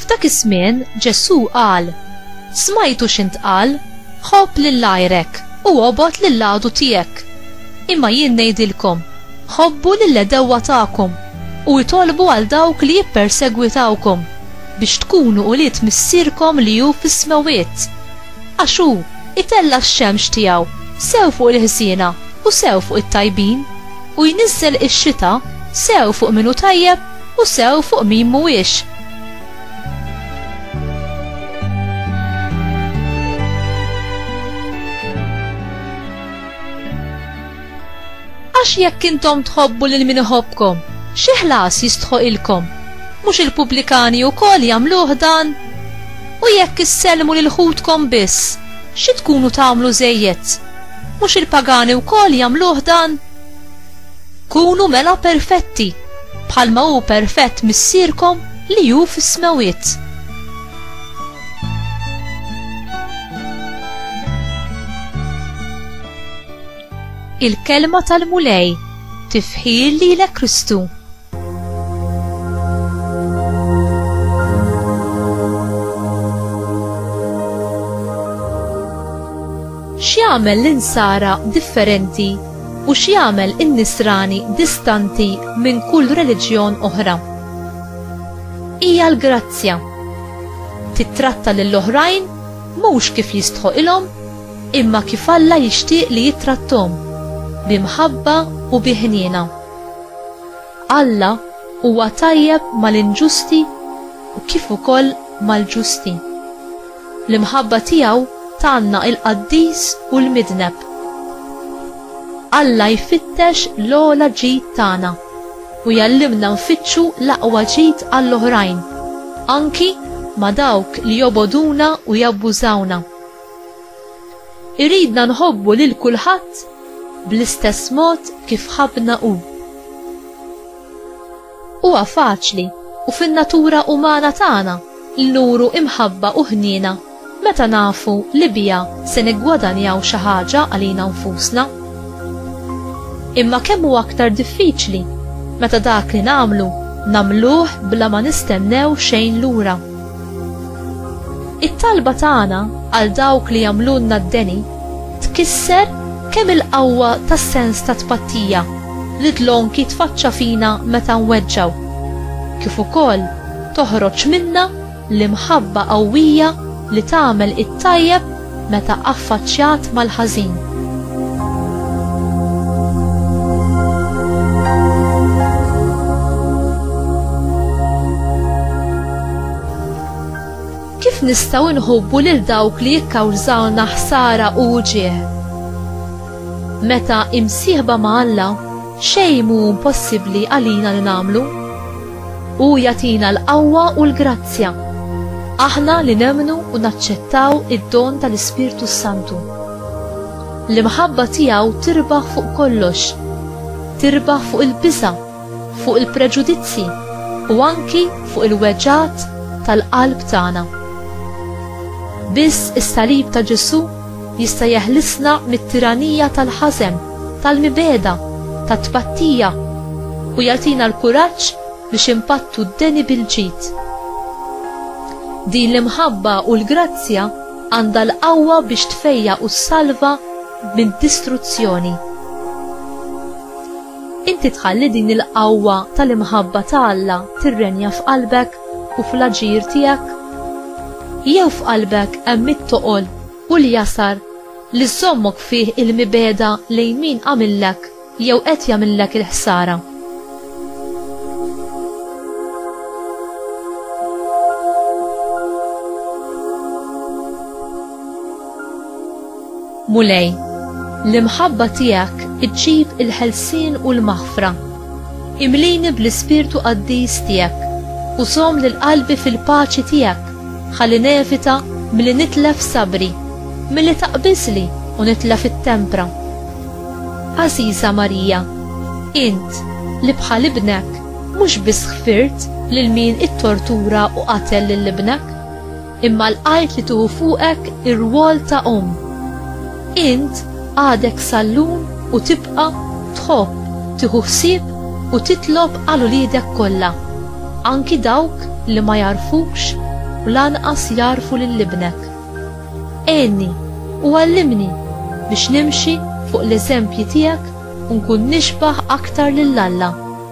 F'dak iż-żmien Ġesù qal, Smajtu x'intqal, 'Ħobb lil għajrek u obgħod lil l-għadu tiegħek'. Imma jien ngħidilkom, Ħobbu lill-għedewwa tagħkom, u itolbu għal dawk li jippersegwitawkom, biex tkunu ulied Missierkom li hu fis-smewwiet. Għax hu jtella' x-xemx tiegħu sew fuq il-ħżiena u sew fuq it-tajbin, u jniżżel ix-xita sew fuq min hu tajjeb u sew fuq min mhuwiex. Għax jekk intom tħobbu lil min iħobbkom, xi ħlas jistħoqilkom? Mhux il-pubblikani wkoll jagħmluh dan? U jekk issellmu lil ħutkom biss, xi tkunu tagħmlu żejjed? Mhux il-pagani wkoll jagħmluh dan? Kunu mela perfetti, bħalma hu perfett Missierkom li hu fis-smewwiet. Il-kelma tal-Mulej tifħir lilek Kristu. X'jagħmel l-Insara differenti u x'jagħmel in-Nisrani distanti minn kull reliġjon oħra? Hija l-grazzja. Tittratta lil oħrajn mhux kif jistħoqilhom imma kif Alla jixtieq li jittratthom, bi mħabba u bi ħniena. Alla huwa tajjeb mal-inġusti u kif ukoll mal-ġusti. L-imħabba tiegħu tgħanna il-qaddis u l-midneb. Alla jfittex l-ogħla ġid tagħna u jgħallimna nfittxu l-aqwa ġid għall-oħrajn, anki ma' dawk li jobogħduna u jabbużawna. Iridna nħobbu lil kulħadd bl-istess mod kif ħabbna Hu. Huwa faċli u fin-natura umana tagħna li nuru imħabba u ħniena meta nafu li biha se niggwadanjaw xi ħaġa għalina nfusna. Imma kemm hu aktar diffiċli meta dak li nagħmlu nagħmluh bla ma nistennew xejn lura. It-talba tagħna għal dawk li jagħmlulna d-deni tkisser kemm il-qawwa tas-sens ta' tpattija li dlonk jitfaċċa fina meta nweġġgħu, kif ukoll toħroġ minna l-imħabba qawwija li tagħmel it-tajjeb meta affaċċjat mal-ħażin. Kif nistgħu nħobbu lil dawk li jikkawżawna ħsara u uġieħ? Meta imsieħba ma' Alla, xejn mhu impossibbli għalina li nagħmlu. Hu jagħtina l-qawwa u l-grazzja. Aħna li nemmnu u naċċettaw id-don tal-Ispirtu s-Santu. L-imħabba tiegħu tirbaħ fuq kollox. Tirbaħ fuq il-biża', fuq il-preġudizzi u anki fuq il-weġgħat tal-qalb tagħna. Biss is-salib ta' Ġesù Jista' jeħlisna mit-tiranija tal-ħażen, tal-mibegħda, tat-tpattija, u jagħtina l-kuraġġ biex inpattu d-deni bil-ġid. Din l-imħabba u l-grazzja għandha l-qawwa biex tfejjaq u ssalva mid-distruzzjoni. Inti tħalli din il-qawwa tal-imħabba ta' Alla tirrenja f'qalbek u fl-aġir tiegħek? Jew f'qalbek hemm it-toqol u l-jasar li żżommok fih il-mibegħda lejn min għamillek jew qed jagħmillek il-ħsara? Mulej, l-imħabba tiegħek iġġib il-ħelsien u l-maħfra. Imlini bl-ispirtu qaddis tiegħek u żomm lil qalbi fil-paċi tiegħek ħalli nevita milli nitlef sabri, milli taqbiżli u nitlef it-tempra. Għażiża Marija, int li bħal ibnek mhux biss ħfirt lil min ittortura u qatel lil ibnek, imma lqajt li tieħu fuqek ir-rwol ta' omm. Int għadek sallum u tibqa' tħobb tieħu ħsieb u titlob għal uliedek kollha, anki dawk li ma jagħrfukx u lanqas jagħrfu lil ibnek. Għinni u għallimni biex nimxi fuq l-eżempji tiegħek u nkun nixbah aktar lil Alla.